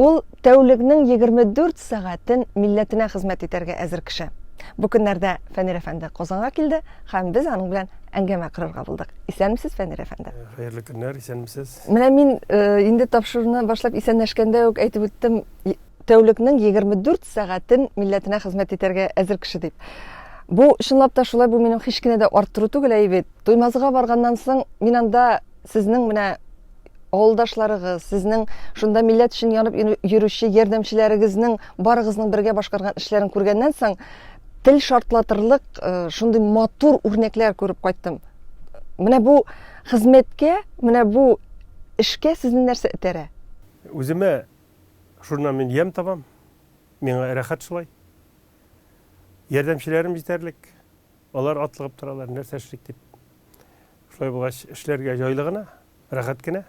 Ул тәүлекнең егерме дүрт сәгатен милләтенә хезмәт итәргә әзер кеше. Бу көннәрдә Фәнир әфәнде Казанга килде һәм без аның белән әңгәмә корырга булдык. Исәнмесез, Фәнир әфәнде. Э, хәерле көннәр, исәнмесез. Менә мин э, инде тапшыруны башлап исәнләшкәндә үк әйтеп үттем, тәүлекнең 24 сәгатен милләтенә хезмәт итәргә әзер кеше дип. Бу чынлап та шулай, бу минем һич кенә дә арттыру түгел, әйбит. Туймазыга барганнан соң мин анда Сезнең менә авылдашларыгыз, сезнең шунда милләт өчен янып йөрүче ярдәмчеләрегезнең барыгызның бергә башкарган эшләрен күргәннән соң, тел шартлатырлык э, шундый матур үрнәкләр күреп кайттым. Менә бу хезмәткә, менә бу эшкә сезне нәрсә этәрә? Үземә шуннан мин ям табам. Миңа рәхәт шулай. Ярдәмчеләрем җитәрлек. Алар атлыгып торалар, нәрсә эшлик дип. Шулай булгач, эшләргә җайлы гына, рәхәт кенә.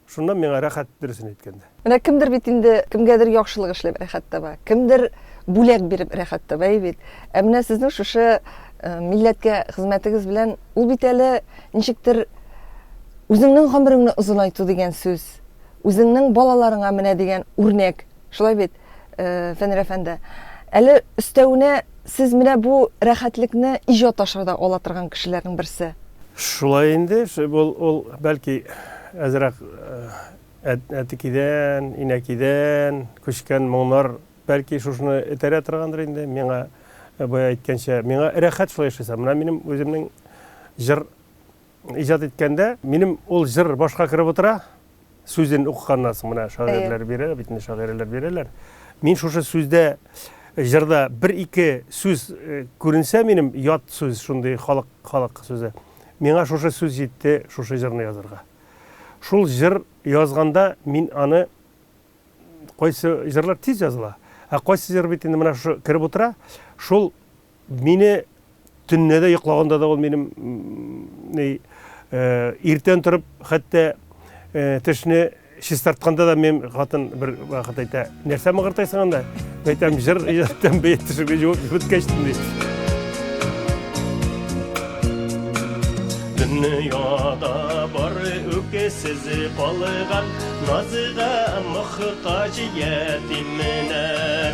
Шуннан миңа рәхәт, дөресен әйткәндә. Менә кемдер бит инде кемгәдер яхшылык эшләп рәхәт таба, кемдер бүләк биреп рәхәт таба, әй бит. Ә менә сезнең шушы милләткә хезмәтегез белән, ул бит әле ничектер үзеңнең гомереңне озынайту дигән сүз, үзеңнең балаларыңа менә дигән үрнәк. Шулай бит, Фәнир әфәнде. Әле өстәвенә сез менә бу рәхәтлекне иҗат аша да ала торган кешеләрнең берсе. Шулай инде, ул, ул бәлки әзрәк әтекидән, инәкидән күчкән моңнар бәлки шушыны этәрә торгандыр инде. Миңа бая әйткәнчә, миңа рәхәт шулай яшәсәм. Менә минем үземнең җыр Иҗат иткәндә минем ул җыр башка кереп утыра, сүзен укыганнан соң менә шагыйрьләр бирә, бит шагыйрьләр бирәләр. Мин шушы сүздә җырда бер-ике сүз э, күренсә минем ят сүз шундый халык халык сүзе. Миңа шушы сүз җитте шушы җырны язырга. Шул җыр язганда мин аны кайсы җырлар тиз языла, ә кайсы җыр бит инде менә шушы кереп утыра, шул Мине төнне дә йоклаганда да ул минем ни иртән торып, хәтта тешне чистартканда да мен хатын бер вакыт әйтә, нәрсә мыгыртайсың анда? Әйтәм, җыр җыртам бе тешемне җуып беткәчтем ди. Дөньяда бары үкесез калган, назыга мохтаҗ ятимнәр.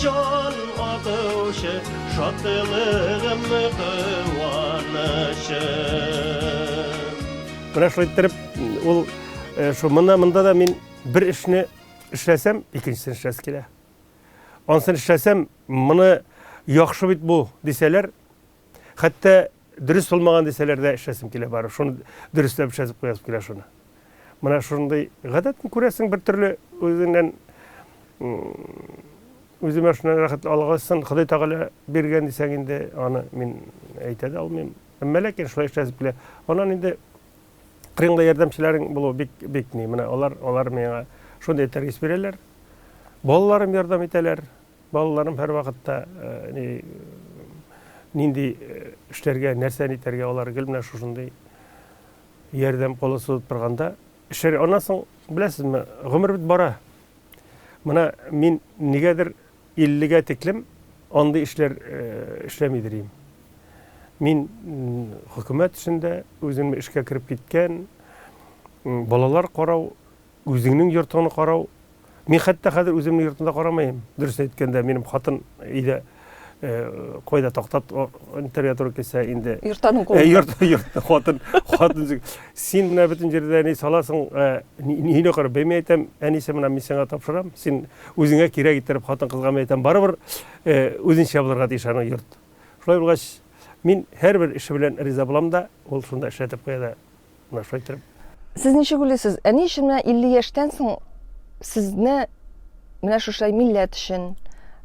Җан атучы, шатлыгым, куанычым. Прошлый иттереп, ул шул монда, монда да мин бер эшне эшләсәм, икенчесен эшләсе килә. Ансын эшләсәм, моны яхшы бит бу, дисәләр, Хәтта дөрес булмаган дисәләр дә эшләсем килә бары. Шуны дөресләп эшләтеп куясым килә шуны. Менә шундый гадәтне күрәсең бер төрле үзеңнән үземә шуннан рәхәт алгасын Ходай Тәгалә биргән дисәң инде аны мин әйтә дә алмыйм. Әмма ләкин шулай эшләсеп килә. Аннан инде кырыңда ярдәмчеләрең булу бик бик ни. Менә алар алар миңа шундый тәрбия бирәләр. Балаларым ярдәм итәләр. Балаларым һәрвакытта ни нинди эшләргә, нәрсә нитәргә алар гел менә шушындый ярдәм колы сузып торганда эшләр. Аннан соң беләсезме, гомер бит бара. Менә мин нигәдер 50-гә тиклем андый эшләр эшләмидер идем. Мин хөкүмәт эшендә үземне эшкә кереп киткән, балалар карау Үзеңнең йортыңны карау, мин хәтта хәзер үземнең йортны да карамыйм. Дөрес әйткәндә, минем хатын өйдә кайда тактат интервью туры килсә инде. Йортаның кулы. Йорт, йорт, хатын, хатын. Син менә бөтен җирдә ни саласың, нигә кара, бәйме әйтәм, әнисе менә мин сиңа тапшырам, син үзеңә кирәк иттереп хатын кызга мин әйтәм, барыбер үзенчә булырга тиеш аның йорт. Шулай булгач, мин һәрбер эше белән риза булам да, ул шунда эшләтеп куя да. Нәрсә әйтер? Сез ничек уйлыйсыз, ә ни өчен менә 50 яшьтән соң сезне менә шушай милләт өчен,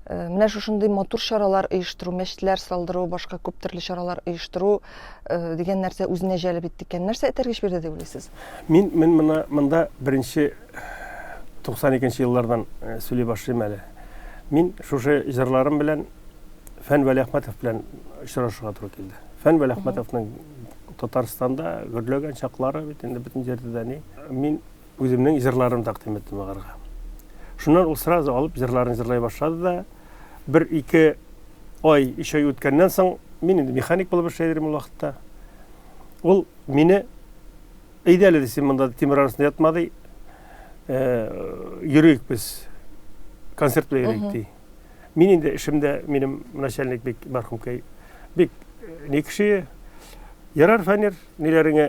э, менә шушындый матур чаралар оештыру, мәчетләр салдыру, башка күп төрле чаралар оештыру э, дигән нәрсә үзенә җәлеп итте икән? Нәрсә этәргеч бирде дип уйлыйсыз? Мин мин моны монда беренче 92 еллардан э, сөйли башлыйм әле. Мин шушы җырларым белән Фән Вәлиәхмәтов белән очрашырга туры килде. Фән Вәлиәхмәтовның Татарстанда гөрләгән чаклары бит инде бөтен җирдә дә ни. Мин үземнең җырларымны тәкъдим иттем аларга. Шуннан ул сразу алып җырларын җырлай башлады да бер ике ай, өч ай үткәннән соң мин инде механик булып эшли идем ул вакытта. Ул мине әйдә әле син монда тимер арасында ятма ди. Э, йөрик без концерт белән йөрик ди. Мин инде эшемдә минем начальник бик мәрхүмкәй бик не кеше. Ярар, фәнер, ниләреңә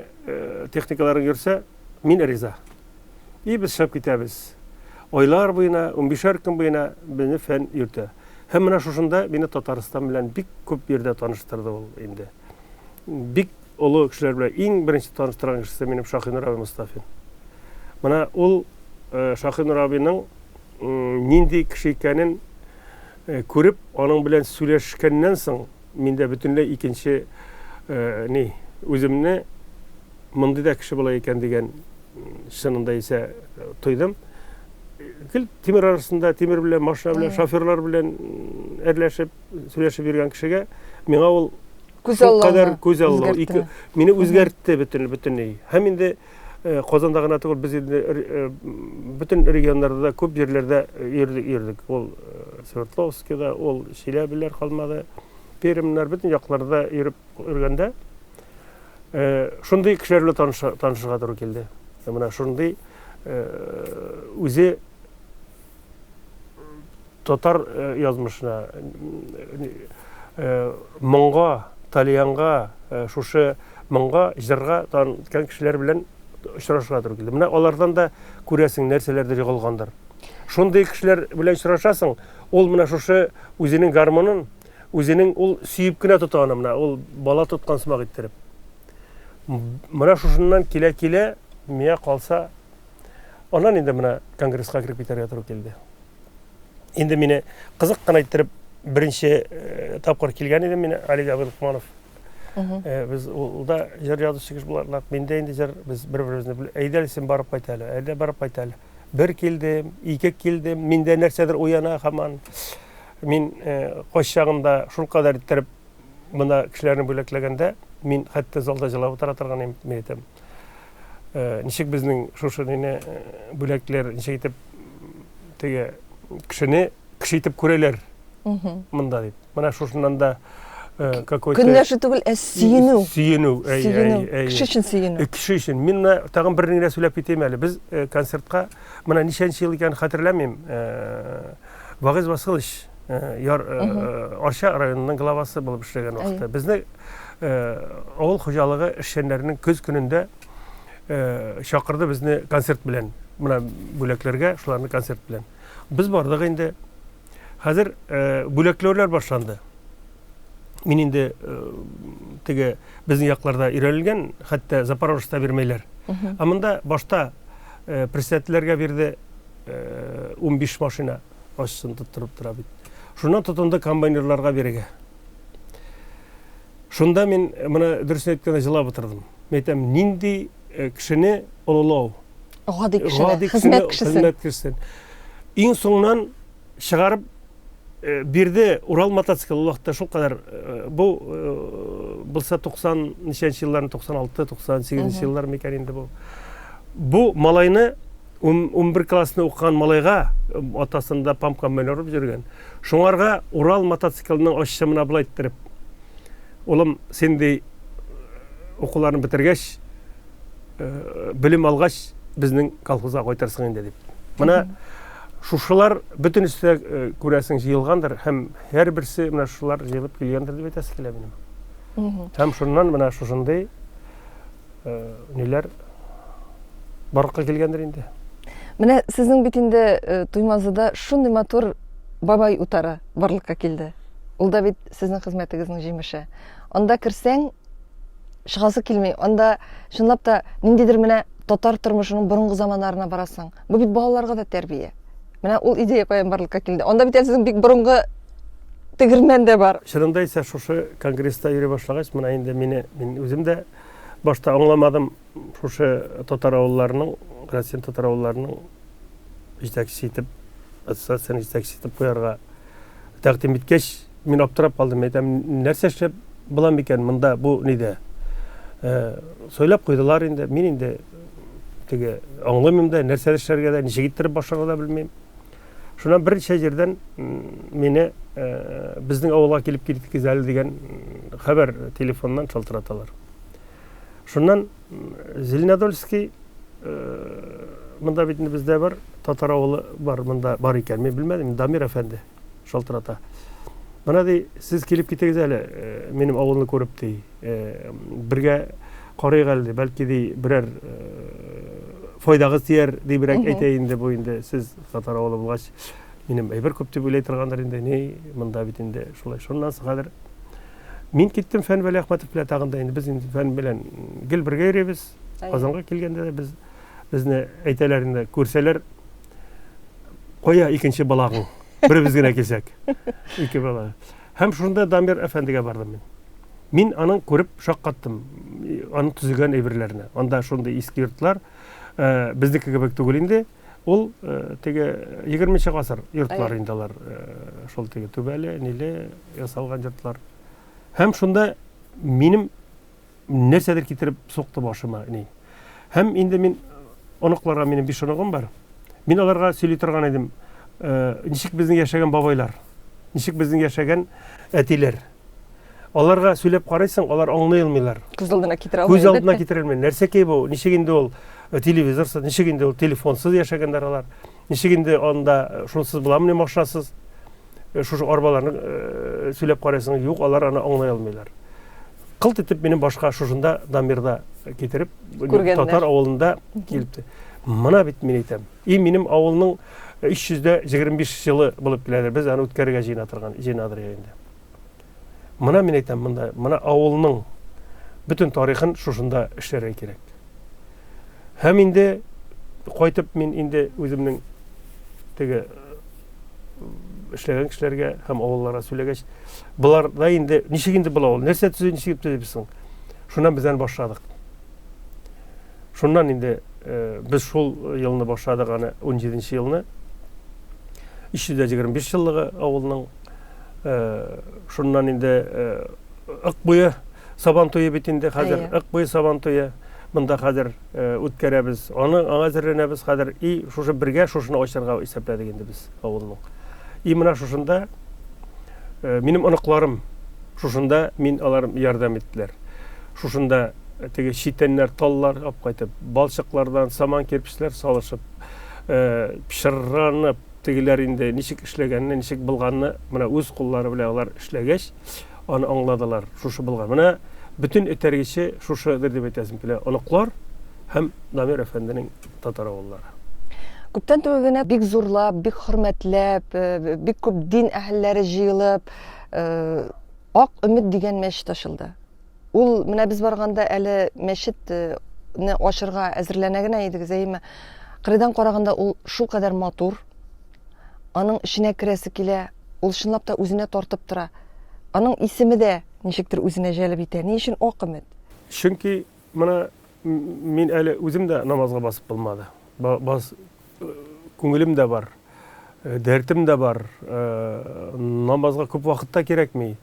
техникаларың йөрсә, мин риза. И без чыгып китәбез. Айлар буена, 15 көн буена безне фән йөртә. Һәм менә шушында мине Татарстан белән бик күп җирдә таныштырды ул инде. Бик олы кешеләр белән иң беренче таныштырган кешесе минем Шахинур абый Мустафин. Менә ул Шахинур абыйның нинди кеше икәнен күреп, аның белән сөйләшкәннән соң, миндә бөтенләй икенче ни, үземне мондый да кеше була икән дигән чынында исә тойдым. Гел тимер арасында, тимер белән, машина белән, шоферлар белән әрләшеп, сөйләшеп йөргән кешегә миңа ул күз аллау, күз аллау, мине үзгәртте бөтен бөтенләй. Һәм инде Э, Казанда гына түгел, без инде э, э, бөтен регионнарда да күп җирләрдә йөрдек, йөрдек. Ул Свердловскида, ул Чиләбиләр калмады. Пермнар бөтен якларда йөреп йөргәндә шундый кешеләр белән таныша, танышырга туры килде. Менә шундый үзе Татар язмышына, моңга, тальянга, шушы моңга, җырга таныткан кешеләр белән очрашырга туры килде. Менә алардан да күрәсең, нәрсәләрдер егылгандыр. Шундый кешеләр белән очрашасың, ул менә шушы үзенең гармонын, үзенең ул сөеп кенә тота аны менә, ул бала тоткан сымак иттереп. Менә шушыннан килә-килә, миңа калса, аннан инде менә конгресска кереп китәргә туры килде. Инде мине кызык кына иттереп беренче э, тапкыр килгән идем мин Олег Абдулкманов. Э, без ул да җыр язучы кеше буларак, мин дә инде җыр без бер-беребезне бел- әйдә әле син барып кайт әле, әйдә барып кайт әле. Бер килдем, ике килдем, миндә нәрсәдер уяна һаман. Мин э, кач чагында шул кадәр иттереп мына кешеләрне бүләкләгәндә, мин хәтта залда җылап утыра торган идем, мин әйтәм. Ничек безнең шушы нене бүләкләр ничек итеп теге кешене кеше итеп күрәләр монда дип. Менә шушыннан да какой-то... Көнләшү түгел, ә сөенү. Сөенү. Сөенү. Кеше өчен сөенү. Кеше өчен. Мин менә тагын бер нәрсә сөйләп китәм әле. Без концертка менә ничәнче ел икәнен хәтерләмим. Вагыз Васылыч яр арча районының главасы булып эшләгән вакытта безне авыл хуҗалыгы эшчәннәренең көз көнендә чакырды безне концерт белән мына бүләкләргә шуларны концерт белән без бардык инде хәзер бүләкләүләр башланды мин инде теге безнең якларда өйрәнелгән хәтта запорожецта бирмәйләр ә монда башта председательләргә бирде унбиш машина ачысын тоттырып тора бит. Шуннан тотынды комбайнерларга бирегә. Шунда мин э, менә дөрес әйткәндә җылап утырдым. Мин әйтәм, нинди э, кешене олылау? Гади кешене, хезмәт кешесен. Хезмәт кешесен. Иң соңнан чыгарып э, бирде Урал мотоцикл вакытта шул кадәр бу булса 90 ничәнче елларны 96 98 еллар микән инде бу. Бу малайны Ун-унбер классны укыган малайга атасында памка менә урып йөргән. Шуңарга Урал мотоциклының ачышы мына былай иттереп. Улым, син ди укуларны бетергәч, белем алгач, безнең колхозга кайтырсың инде дип. Менә шушылар бөтенесе күрәсең җыелгандыр һәм һәрберсе менә шулар җыелып килгәндер дип әйтәсе килә минем. Һәм шуннан менә шушындый э, ниләр барлыкка килгәндер инде. Менә сезнең бит инде э, Туймазыда шундый матур бабай утары барлыкка килде. Ул да бит сезнең хезмәтегезнең җимеше. Анда керсәң, чыгасы килми. Анда чынлап та ниндидер менә татар тормышының борынгы заманнарына барасың. Бу бит балаларга да тәрбия. Менә ул идея каян барлыкка килде. Анда бит сезнең бик борынгы тегермән дә бар. Чынында исә шушы конгресста йөри башлагач, менә инде мине мин үзем дә Башта аңламадым, шушы татар авылларының, Россиянең татар авылларының җитәкчесе итеп, ассоциацияне җитәкчесе итеп куярга тәкъдим иткәч, мин аптырап калдым. Әйтәм, нәрсә эшләп була микән монда бу нидә? Э, сөйләп куйдылар инде. Мин инде теге аңламыйм да, нәрсә эшләргә дә, ничек иттереп башларга да белмим. Шуннан берничә җирдән мине э, безнең авылга килеп киткез әле дигән хәбәр телефоннан шалтыраталар. Шуннан Зеленодольский э, монда бит бездә бар татар авылы бар монда бар икән мин белмәдем дамир әфәнде шалтырата мына ди сез килеп китегез әле э, минем авылны күреп ди бергә карыйк әле, бәлки ди берәр файдагыз тияр дибрәк әйтә инде бу инде сез татар авылы булгач минем әйбер күп дип уйлый торгандыр инде ни монда бит инде шулай шуннан хәзер мин киттем фән вәли ахматов белән тагын да инде без инде фән белән гел бергә йөрибез казанга килгәндә дә без безне әйтәләр инде күрсәләр кая икенче балагың беребез генә килсәк ике бала Һәм шунда Дамир әфәндегә бардым мин. Мин аның күреп шаккаттым, аның төзегән әйберләренә. Анда шундый иске йортлар, э, безнеке кебек түгел инде. Ул э, теге 20 гасыр йортлар инде алар, э, шул теге түбәле, ниле ясалган йортлар. Һәм шунда минем Нәрсәдер китереп сукты башыма, ни. Һәм инде мин оныкларга минем биш оныгым бар. Мин аларга сөйли торган идем, э, ничек безнең яшәгән бабайлар, ничек безнең яшәгән әтиләр. Аларга сөйләп карыйсың, алар аңлый алмыйлар. Күз алдына китерә алмый. Күз алдына китерә алмый. Нәрсә ки бу? Ничек инде ул э, телевизорсыз, ничек инде ул телефонсыз яшәгәннәр алар? Ничек инде анда э, шунсыз буламыни машинасыз? Э, шушы арбаларны э, сөйләп карайсың, юк, алар аны аңлай алмыйлар. Кылт итеп минем башка шушында Дамирда китереп, татар авылында килде. Мына бит мин әйтәм. И минем авылның 325 җылы булып киләдер. Без аны үткәрергә җыена торган, җыенадыр инде. Мына мин әйтәм, монда, мына авылның бөтен тарихын шушында эшләргә кирәк. Һәм инде кайтып мин инде үземнең теге эшләгән кешеләргә һәм авылларга сөйләгәч, болар да инде ничек инде була ул? Нәрсә төзү ничек төзибез соң? Шуннан без аны башладык. Шуннан инде э, без шул елны башладык аны 17 елны. 325 еллыгы авылның Шуннан инде ык буе сабан туе бит инде хәзер. Ык буе сабан туе монда хәзер үткәрәбез. Аны аңа әзерләнәбез хәзер. И шушы бергә шушыны ачарга исәпләдек инде без авылның. И менә шушында минем оныкларым шушында мин алар ярдәм иттеләр. Шушында теге читәннәр таллар алып кайтып балчыклардан саман кирпечләр салышып пешерранып Тегеләр инде ничек эшләгәнне, ничек былганны менә үз куллары белән алар эшләгәч, аны аңладылар. Шушы былган. Менә бөтен этәргече шушыдыр дип әйтәсем килә. Оныклар һәм Дамир әфәнденең татар авыллары. Күптән түгел генә бик зурлап, бик хөрмәтләп, бик күп дин әһелләре җыелып, Ак өмет дигән мәчет ачылды. Ул менә без барганда әле мәчетне ачырга әзерләнә генә идегез, әйеме? Кырыйдан караганда ул шул кадәр матур. Аның эченә керәсе килә, ул чынлап та үзенә тартып тора. Аның исеме дә ничектер үзенә җәлеп итә. Ни өчен Ак өмет? Чөнки менә мин әле үзем дә намазга басып булмады. Бас күңелем дә бар, дәртем дә бар, намазга күп вакыт та кирәкми.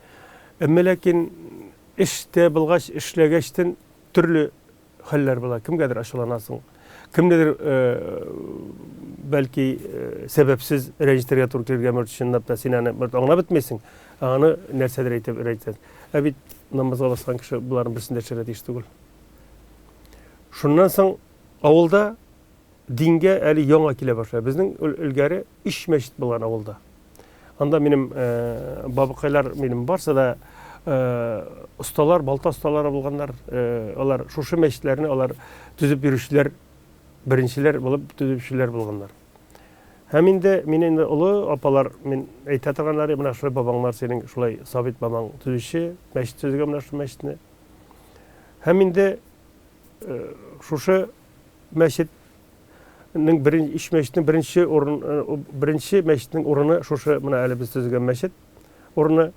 Әмма ләкин эштә булгач, эшләгәчтен төрле хәлләр була. Кемгәдер ачуланасың, кемнедер бәлки сәбәпсез рәнҗетергә туры килергә мөрт чынлап та син аны бер аңлап бетмисең, аны нәрсәдер әйтеп рәнҗетәсең. Ә бит намазга баскан кеше боларның берсен дә эшләргә тиеш түгел. Шуннан соң авылда Дингә әле яңа килә башлый. Безнең элгәре өч мәчет булган авылда. Анда минем бабыкайлар минем барсы да осталар, балта осталары булганнар. Алар шушы мәчетләрне алар төзеп бирүчеләр, беренчеләр булып төзүчеләр булганнар. Һәм инде мин инде олы апалар, мин әйтә торганнары, менә шулай бабаңнар синең, шулай Сабит бабаң төзүче, мәчет төзегән менә шул мәчетне. Һәм инде шушы мәчет Нең беренче өч мәчетнең беренче урын э, беренче мәчетнең урыны шушы менә әле без төзегән мәчет урыны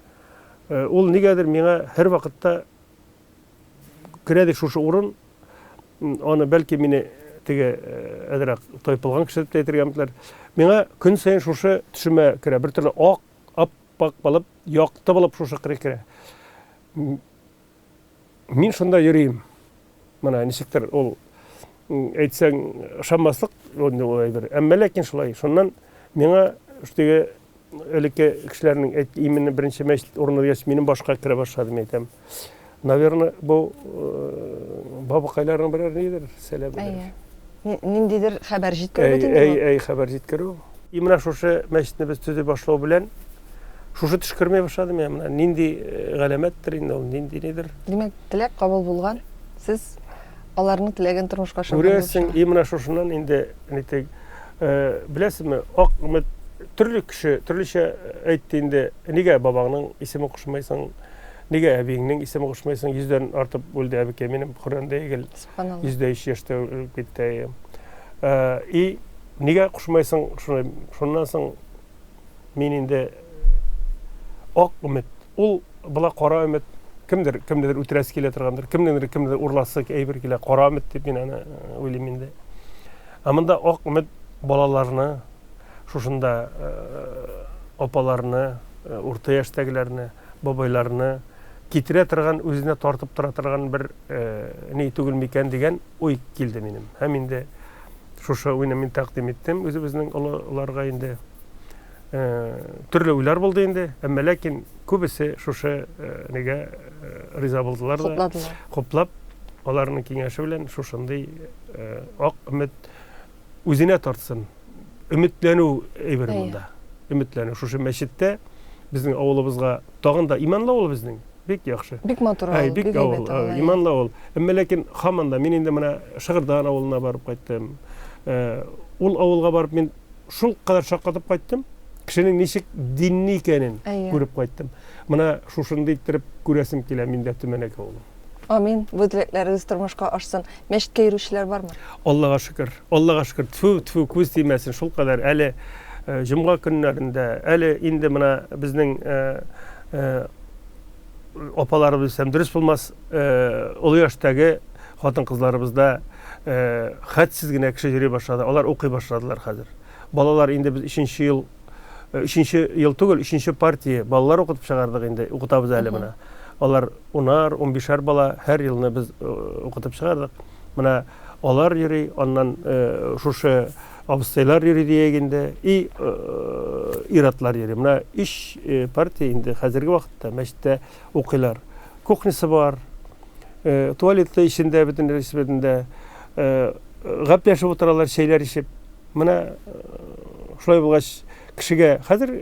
э, ул нигәдер миңа һәр вакытта керәде шушы урын аны бәлки мине теге э, әзрәк тайпылган кеше дип әйтергә мөмкиннәр миңа көн саен шушы төшемә керә бер төрле ак аппак булып якты булып шушы керә Мин шунда йөрим. Менә ничектер ул әйтсәң ышанмаслык бер. Әмма ләкин шулай. Шуннан миңа теге элекке кешеләрнең әйт именно беренче мәчет урыны дигәч, минем башка керә башлады, мин әйтәм. Наверное, бу бабакайларның берәр нидер сәләбедер. Ниндидер хәбәр җиткерү бит инде. Әй, әй, хәбәр җиткерү. И менә шушы мәчетне без төзи башлау белән Шушы төш кермәй башлады миңа менә. Нинди э, галәмәттер инде ул, нинди нидер. Димәк, теләк кабул булган. Сез аларның теләген тормышка ашырган. Күрәсең, и менә шушыннан инде нитек э, беләсезме, ак үмет төрле кеше төрлечә әйтте инде. Нигә бабаңның исемен кушмайсың? Нигә әбиеңнең исемен кушмайсың? Йөздән артып үлде әбекәй минем Коръәндә егел. Субханалла. Йөз дә өч яшьтә үлеп китте. Э, и нигә кушмайсың шуны? Шуннан соң мин инде ак өмет, ул була кара өмет, кемдер кемнедер үтерәсе килә торгандыр, кемнеңдер кемнедер урласы әйбер килә, кара өмет дип мин аны э, уйлыйм инде. Ә монда ак өмет балаларны, шушында э, апаларны, э, урта яшьтәгеләрне, бабайларны китерә торган, үзенә тартып тора торган бер ни түгел микән дигән уй килде минем. Һәм инде Шушы уйны мин тәкъдим иттем үзебезнең олыларга инде. Төрле уйлар булды инде, әмма ләкин күбесе шушы нигә риза булдылар да. Хуплап, аларның киңәше белән шушындый ак өмет үзенә тартсын. Өметләнү әйбер монда. Өметләнү шушы мәчеттә безнең авылыбызга тагын да иманлы авыл безнең. Бик яхшы. Бик матур авыл, бик әйбәт авыл. Иманлы авыл. Әмма ләкин хаман да мин инде менә Шыгырдан авылына барып кайттым. Э, ул авылга барып мин шул кадәр шаккатып кайттым. Кешенең ничек динни икәнен күреп кайттым. Менә шушында иттереп күрәсем килә миндә Төмәнәк авылын. Амин. Бу теләкләрегез тормышка ашсын. Мәчеткә йөрүчеләр бармы? Аллага шөкер. Аллага шөкер. Тфу, тфу, күз тимәсен. Шул кадәр әле э, җомга көннәрендә, әле инде менә безнең э, апаларыбыз дисәм дөрес булмас, олы яшьтәге хатын-кызларыбызда хәтсез генә кеше йөри башлады. Алар укый башладылар хәзер. Балалар инде без 3 ел 3 ел түгел, 3 партия балалар укытып чыгардык инде, укытабыз әле менә. Алар унар, унбишәр бала һәр елны без укытып чыгардык. Менә алар йөри, аннан шушы Абыстайлар йөри диек инде, и ир-атлар йөри. Менә өч партия инде хәзерге вакытта мәчеттә укыйлар. Кухнясы бар, туалеты эчендә бөтен рәсбетендә гәпләшеп утыралар, чәйләр эчеп. Менә шулай булгач, кешегә хәзер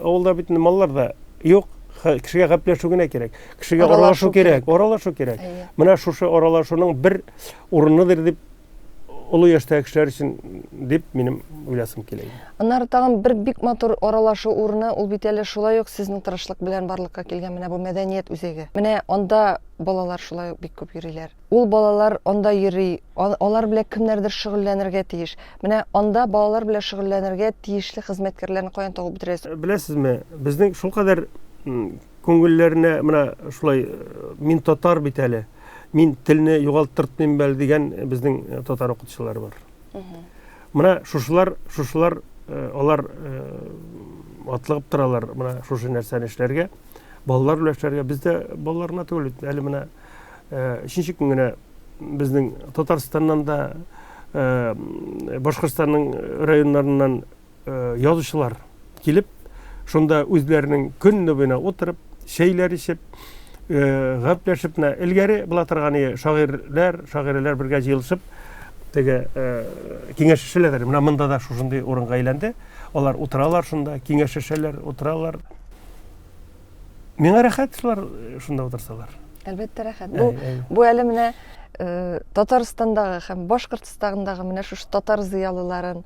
авылда бит маллар да юк, кешегә гәпләшү генә кирәк. Кешегә аралашу кирәк, аралашу кирәк. Менә шушы аралашуның бер урыныдыр дип олы яшьтәге кешеләр өчен дип минем уйласым килә иде. Аннары тагын бер бик матур аралашу урыны, ул бит әле шулай ук сезнең тырышлык белән барлыкка килгән менә бу мәдәният үзәге. Менә анда балалар шулай ук бик күп йөриләр. Ул балалар анда йөри, алар белән кемнәрдер шөгыльләнергә тиеш. Менә анда балалар белән шөгыльләнергә тиешле хезмәткәрләрне каян табып бетерәсез? Э, беләсезме, безнең шулкадәр күңелләренә менә шулай э, мин татар бит әле, мин телне югалттыртмыйм бәл дигән безнең татар укытучылары бар мына шушылар шушылар алар атлыгып торалар мына шушы нәрсәне эшләргә балалар белән эшләргә без дә балалар гына түгел әле менә өченче көн генә безнең татарстаннан да башкортстанның районнарыннан язучылар килеп, шунда үзләренең көнне буена утырып, чәйләр эчеп, э, гәпләшеп, менә элгәре була торган иде, шагыйрьләр, шагыйрәләр бергә җыелышып, теге э, киңәшешәләр. Менә монда да шушындый урынга әйләнде. Алар утыралар шунда, киңәшешәләр, утыралар. Миңа рәхәт шулар э, шунда утырсалар. Әлбәттә рәхәт. Бу бу әле менә Э, татарстандагы һәм башкортстандагы менә шушы татар зыялыларын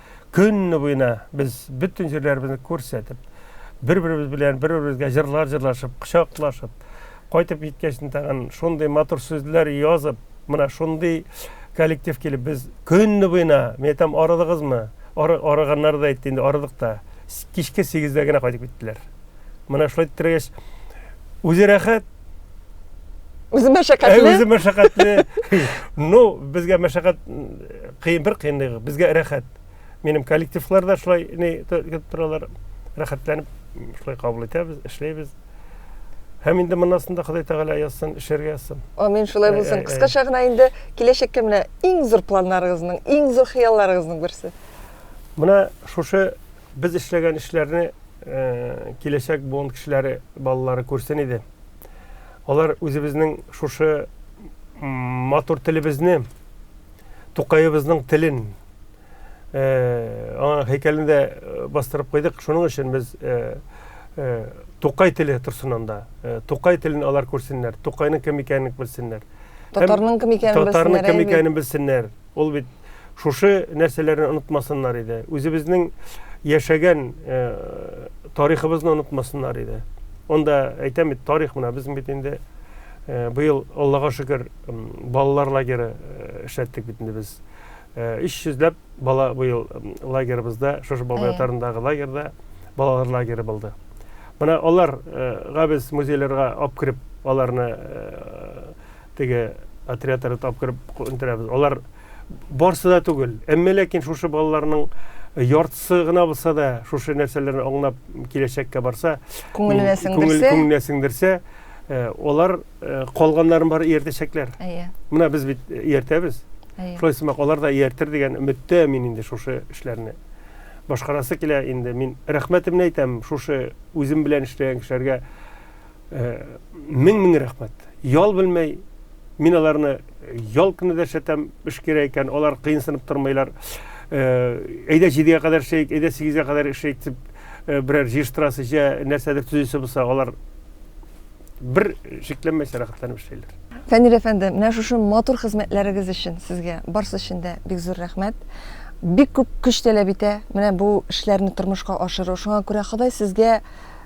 Көнне буена без бөтен җирләребезне күрсәтеп, бер-беребез белән бер-беребезгә җырлар җырлашып, кочаклашып, кайтып киткәч тагын шундый матур сүзләр язып, менә шундый коллектив килеп без көнне буена, мин әйтәм, арыдыгызмы? Ары, арыганнар да әйтте, инде арыдык та. Кичке 8-дә генә кайтып киттеләр. Менә шулай тирәгәч, үзе рәхәт, үзе мәшәкатьле э, үзе мәшәкатьле ну безгә мәшәкать кыен бер кыенлыгы безгә рәхәт минем коллективлар да шулай не итеп торалар рәхәтләнеп шулай кабул итәбез эшләйбез һәм инде моннан да ходай тәгалә язсын эшләргә язсын амин шулай булсын кыскача гына инде киләчәккә менә иң зур планнарыгызның иң зур хыялларыгызның берсе менә шушы Без эшләгән эшләрне киләчәк буын кешеләре, балалары күрсен иде. Алар үзебезнең шушы матур телебезне, Тукаебызның телен аңа һәйкәлендә бастырып куйдык. Шуның өчен без Тукай теле торсын анда. Тукай телен алар күрсеннәр, Тукайның кем икәнен белсеннәр. Татарның кем икәнен белсеннәр. Татарның кем икәнен белсеннәр. Ул бит шушы нәрсәләрне онытмасыннар иде. Үзебезнең яшәгән э, тарихыбызны онытмасыннар иде. Онда әйтәм бит, тарих менә без бит инде э, быел Аллага шөкер балалар лагеры э, эшләттек бит инде без. 300ләп бала быел лагерыбызда, шушы бабай атарындагы лагерьда балалар лагеры булды. Менә аларга без музейларга алып кереп, аларны Теге отрядлары тапкырып күндерәбез. Алар барсы да түгел. Әмма ләкин шушы балаларның яртысы гына булса да шушы нәрсәләрне аңлап киләчәккә барса, күңеленә сеңдерсә, күңеленә сеңдерсә, алар калганнарын бар ияртәчәкләр. Әйе. Менә без бит ияртәбез. Шулай сымак алар да ияртер дигән өметтә мин инде шушы эшләрне башкарасы килә инде. Мин рәхмәтемне әйтәм шушы үзем белән эшләгән кешеләргә. Э, мең мең рәхмәт ял белмәй мин аларны ял көне дә шәтәм эш кирәк икән алар кыенсынып тормыйлар э, әйдә җидегә кадәр эшләйік әйдә сигезгә кадәр эшләйік дип э, берәр җыештырасы җә нәрсәдер төзисе булса алар бер шикләнмәйсә рәхәтләнеп эшләйләр фәнил әфәнде менә шушы матур хезмәтләрегез өчен сезгә барысы өчен дә бик зур рәхмәт бик күп көч таләп итә менә бу эшләрне тормышка ашыру шуңа күрә ходай сезгә